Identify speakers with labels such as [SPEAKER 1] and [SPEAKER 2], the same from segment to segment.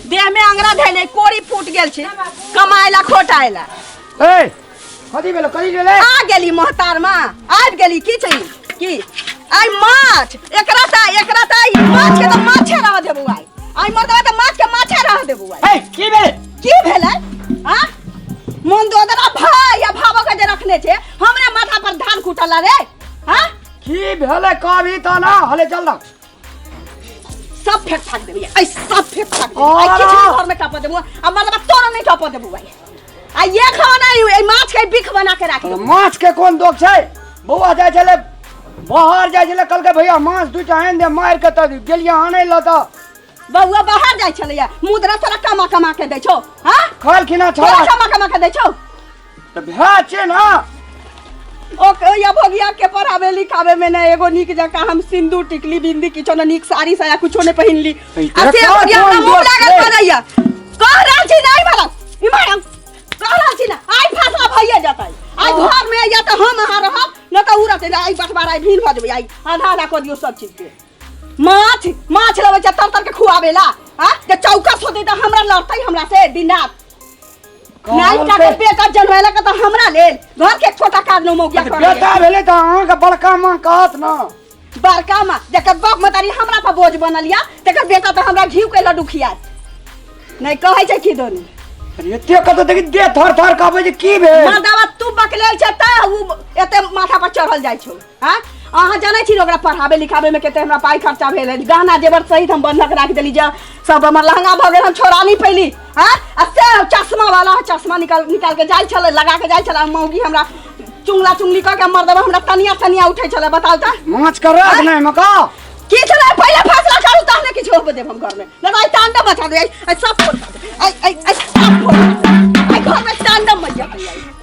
[SPEAKER 1] देह में अंगरा धैले कोरी फूट गेल छी कमाए ला खोटाए ला ए कथी भेलो कथी भेलै आ गेली मोहतार माँ आबि गेली की छै की आइ माछ एकरा ता एकरा ता ई माछ के तऽ माछे रह देबू आइ आइ मर्दवा तऽ माछ के माछे रह देबू आइ ए की भेलै की भेलै आ मन दोदरा भाई या भावो के जे रखने छै हमरे माथा पर धान कुटल रे हाँ की भेलै कभी तऽ ना हले चल ना सब फेक फाक देबो ये ऐ सब फेक फाक देबो आई किछ नहीं घर में टपा देबो आ मतलब तोरा नहीं टपा देबो भाई आ ये खाना ए माछ के बिख बना के राख देबो माछ के कोन दोख छै बौआ जाय छले बाहर जाय छले कल के भैया माछ दू टा आन दे मार के त गेलिया आनै ल त बौआ बाहर जाय छले मुद्रा तोरा कमा कमा के दै छौ हां खाल खिना छौ कमा कमा के दै छौ तऽ भए छै ने ओ या भगिया के पढ़ावे लिखावे में ना एगो नीक जका हम सिंदूर टिकली बिंदी किछो ना नीक साड़ी साया कुछो ने पहिनली अरे आ से कौन- भगिया कौन हमरा मुंह दोस्त लागल है? पड़ैया कह रहल छी नहीं मारा ई मारा कह रहल छी ना आइ फैसला भइए जतै आइ घर में या तऽ हम अहाँ रहब न तऽ उरत आइ बटवार आइ भीन भऽ जेबै आइ आधा आधा कऽ दियौ सब चीज के माछ माछ लबै छै तर तर के खुआबे ला आ जे चौकस होतै तऽ हमरा लड़तै हमरा से दिन रात नाइ का के बेटा जनवेला का तो हमरा लेल घर के छोटा कार नो मौगिया कर बेटा भेले तो अहाँ के बड़का माँ कहत ना बड़का माँ जकर बाप मतारी हमरा पर बोझ बनल या तकर बेटा तो हमरा घी के लड्डू खियात नहीं कहै छै कि दोनी अरे एते कत देखी दे थर थर कहबे जे की भेल माँ दावा तू बकलेल छै त उ एते माथा पर चढ़ल जाइ छौ आँ अहाँ जानै छी जे ओकरा पढ़ाबै लिखाबैमे कते हमरा पाइ खर्चा भेल है गहना जेवर सहित हम बन्हक राखि देली जे सब हमर लहंगा भऽ गेल हम छोड़ा नहि पैली हँ आ से चश्मा वाला चश्मा निकाल निकाल के जाइ छलै लगा के जाइ छलै मौगी हमरा चुंगला चुंगली कऽ के मर देबै हमरा तनिया तनिया उठै छलै बताउ तऽ माछ कर रख नहीं मका की छलै पहिले फैसला करू तहने किछु होबे देब हम घरमे नहि तऽ आइ तांडव मचा दे आइ आइ सब फोड़ दे आइ आइ आइ सब फोड़ दे आइ घरमे तांडव मचा दे आइ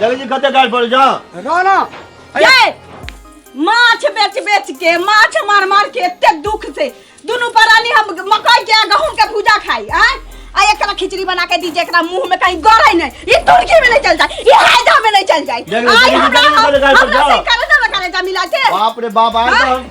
[SPEAKER 1] जल्दी जी कते गाल पड़ जा ना ना ये माछ बेच बेच के माछ मार मार के एते दुख से दुनू परानी हम मकई के आ गहूम के भूजा खाई आ आ एकरा खिचड़ी बना के दीजिए एकरा मुंह में कहीं गड़े नहीं ई तुर्की में नहीं चल जाए ई हैदा में नहीं चल जाए जल्दी, आई जल्दी, हमरा जल्दी, जल्दी, जल्दी, हमरा से जल्दी। करे ना करे जा मिला के बाप रे बाप आए तो हम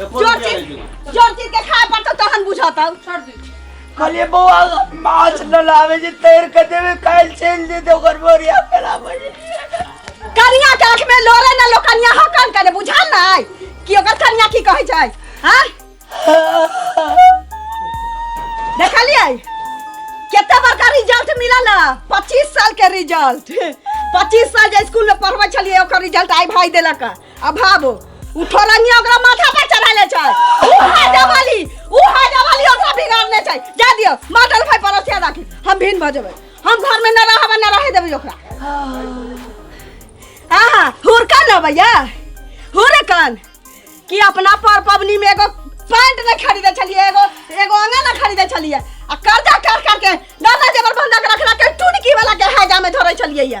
[SPEAKER 1] एको जोर रुपया नहीं चीज गिरा जोर चीज के खाए पर तो तहन बुझाता छोड़ दी कहलिए बौआ माछ न लावे जे तैर के देवे काल चल दे दे ओकर बोरिया पेला बजे कनिया के आंख में लोरे ना लो कनिया हो कान करे बुझाल ना आय कि ओकर कनिया की कहै छै हां देखलियै केते बड़का रिजल्ट मिलल है? 25 साल के रिजल्ट 25 साल जे स्कूल में पढ़बै छलियै ओकर रिजल्ट आइ भाई देलक है। आ भाबो उ ठोरनिया ओकरा माथा पर चढ़ा ले छै उ है जवाली उ है जवाली ओकरा बिगाड़ने छै जा दियो माटल भाई परोसिया राखी हम भिन भ जेबै हम घर में न रहब न रहे देबै ओकरा आहा हुरका न भैया हुरकन कि अपना पर पबनी में एगो पैंट नहीं खरीदे छलिए एगो एगो अंगा नहीं खरीदे छलिए आ कर्जा कर कर के दादा जेबर बंधक रखला के टुनकी वाला के हैजा में धरे छलिए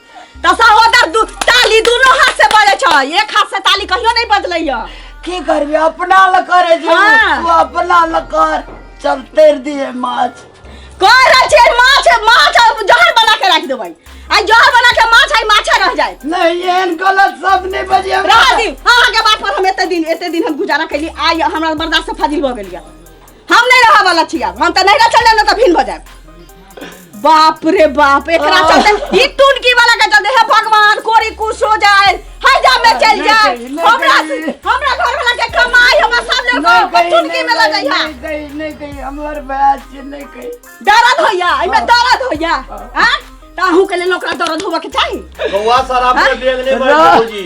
[SPEAKER 1] त सहोदर दू ताली दोनों हाथ से बजे छ एक हाथ से ताली कहियो नहीं बजलैया की करबे अपना ल करे जे हाँ। तू अपना ल कर चल तेर दिए माछ कर रहल छियै माछ माछ अब जहर बना के राख देबै आई जहर बना के माछ आई माछे रह जाए नहीं एहन गलत सब नहीं बजे हमरा। रह दी अहाँ के बात पर हम एते दिन एते दिन हम गुजारा कैली आई हमरा बर्दाश्त से फाजिल भ गेलिया हम नहीं रहा वाला छी अब हम त नहीं रह चले न त भिन भ जाए बाप रे बाप एकरा चलते ई टुनकी वाला के चलते हे भगवान कोरी कुछ हो जाए है जा में चल जाए हमरा हमरा घर वाला के कमाई हमरा सामने को टुनकी में लग जाइया नहीं कही नहीं कही हमार बयाज से नहीं कही दर्द होइया एमे दर्द होइया हां ताहू के लेल ओकरा दर्द होबा के चाही बउआ सर आपके बेग नहीं बन बाबूजी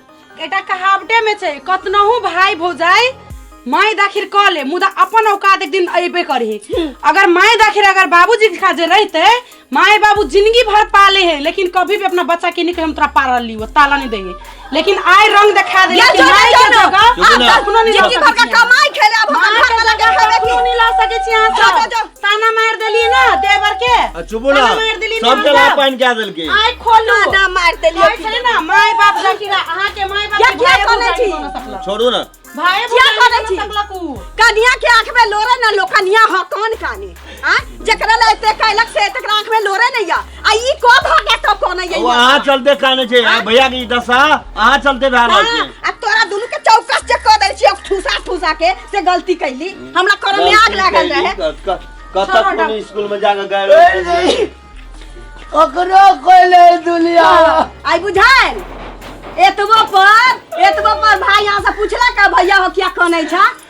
[SPEAKER 1] एटा कहावटे में छै कतनहु भाई भौजाई माय दाखिर कह ले मुदा अपन औकात एक दिन अयबे करही अगर माय दाखिर अगर बाबूजी के खाजे रहते माय बाबू जिंदगी भर पाले है लेकिन कभी भी अपना बच्चा के निकल हम तोरा पारल ली ताला नहीं देंगे लेकिन आय रंग दिखा दे या लेकिन जो माय ना, के जो ना। जगह आप अपनो नहीं ला जिंदगी भर का सकैत छी। कमाई खेले अब हम माय के घर में लगा जगह खेबे अपनो की नहीं ला सकै छी अहाँ जो, सब। जो, जो। ताना मार देलिए ना देवर के आ चुपो ना ताना मार देलिए ना सबके हमरा। लाभ पानि कए देलकै आइ खोलू ना मार देलिए कहै छलै ना माय बाप जाकी ना अहाँ के माय बाप क्या- के क्या भाय कहने भौजाई छी? बना सकलक। छोड़ू ना भाय क्या भौजाई कहने बना छी? सकलक उ। कनिया के आंख में लोरे ना लो कनिया ह कौन काने हां जेकरा ला एते कैलक से तकरा आंख में लोरे नहीं या आ ई को भ के तो कोन ये वो अहाँ चलते कहने छे आ, भैया की दशा अहाँ चलते भए रहल हाँ, छै आ तोरा दुनू के चौकस चेक कर दै छियै ठूसा ठूसा के से गलती कैली हमरा करम में आग लागल रहे कतक छोड़ो ना। कोनो स्कूल में जाके गए रहे ओकरो कोइले दुनिया आई बुझाइल एतबो पर एतबो पर भाई यहाँ से पूछला का भैया हो क्या कनै छा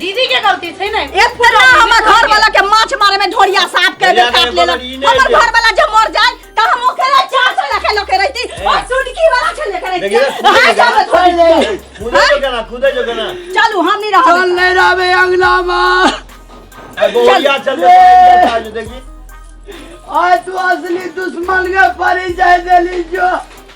[SPEAKER 1] दीदी के गलती छै ने एक तरह हमर घर वाला के माछ मारे में ढोरिया साफ के दे काट लेला हमर घर वाला जब मर जाए त हम ओके ला चार सौ रखे लोग के रहती और सुनकी वाला छे लेके रहती हां सब थोड़ी ले खुदे जो गना खुदे जो गना चलू हम नहीं रहो चल ले रावे अगला मा गोरिया चल चल देखी आज तू असली दुश्मन के परिचय देली जो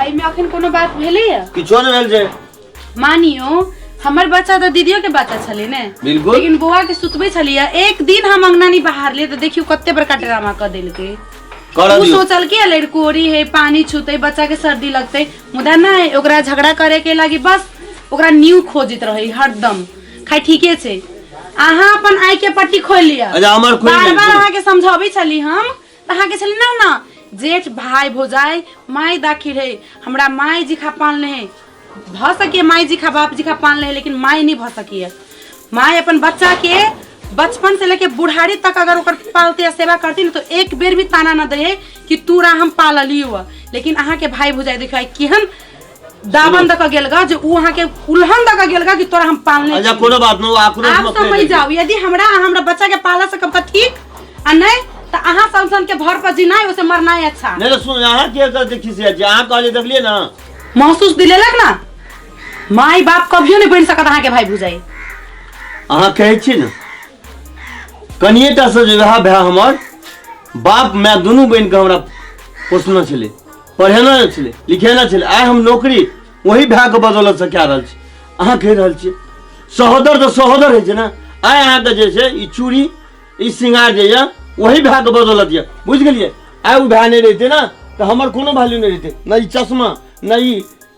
[SPEAKER 1] एहिमे अखन कोनो बात भेलैए किछो नहि भेल छै मानियो हमर बच्चा तऽ दीदियो के बच्चा छलै ने बिल्कुल। लेकिन बौआ के सुतबै छलियै एक दिन हम अंगना नहीं बाहर लिए तऽ देखियो कते बड़का ड्रामा कऽ देलकै करऽ उ दियौ सोचल कि लड़कोरी है पानी छूते बच्चा के सर्दी लगते मुदा नहीं ओकरा झगड़ा करे के लागी बस ओकरा न्यू खोजित रही हरदम खाइ ठीके छै अहाँ अपन आँखि के पट्टी खोलि लिअ अच्छा, हमर खोलि बार लेब, बार सुनू। अहाँके समझाबै छली हम कहाँ के छली ना ना जेठ भाई भौजाई माई दाखिल है हमरा माई जी खा पान ले भ सके माई जी खा बाप जी खा पान ले लेकिन माई नहीं भ सकी है माई अपन बच्चा के बचपन से लेके बुढ़ारी तक अगर ओकर पालते या सेवा करती ना तो एक बेर भी ताना ना दे कि तू रा हम पालली हुआ लेकिन अहाँ के भाई भौजाई देखा केहन दामन दऽ के गेल गा जे ऊ अहाँ के उल्हन दऽ के गेल गा कि तोरा हम पालने अच्छा कोनो बात न आकुरो आप मत समझ जाओ यदि हमरा आ हमरा बच्चा के पाला सकब त ठीक आ नहीं त अहाँ संसन के भर पर जीना है उसे मरना है अच्छा नहीं तो सुन यहाँ के कर देखी से आज यहाँ कहले देख लिए ना महसूस दिलेलक ना माई बाप कभियो नहीं बन सकत अहाँ के भाई भुजाई अहाँ कहै छी ने कनिए टा से जे वएह भाय हमर बाप माय दुनू बहिन के हमरा पोसने छलै पढ़े ना छलै लिखे ना छलै आइ हम नौकरी वही भायके बदौलतसँ कए रहल छी अहाँ कहि रहल छियै सहोदर तऽ सहोदर होइ छै ने आइ अहाँके जे छै ई चूड़ी ई श्रृंगार जे यए वही भायके बदौलत यए बुझि गेलियै आइ ओ भाय नहि रहितै ने तऽ हमर कोनो वैल्यू नहि रहितै नहि ई चश्मा नहि ई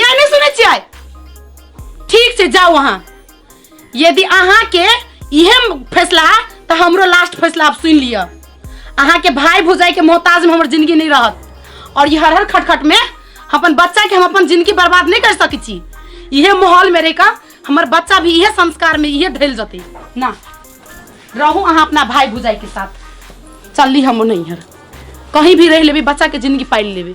[SPEAKER 1] या नहि सुनै छियै ठीक छै जाउ अहाँ यदि अहाँके इहे फैसला है तऽ हमरो लास्ट फैसला आब सुनि लिअ अहाँके भाय भुजाइके मोहताजमे हमर जिंदगी नहि रहत और ई हर हर खटखट में हम अपन बच्चा के हम अपन जिंदगी बर्बाद नहीं कर सकै छी इहे माहौल में रह कऽ हमर बच्चा भी इहे संस्कार में इहे ढल जते ना रहू अहाँ अपना भाई भुजाई के साथ चलली हम नहीं हर कहीं भी रह लेबे बच्चा के जिंदगी पालि लेबे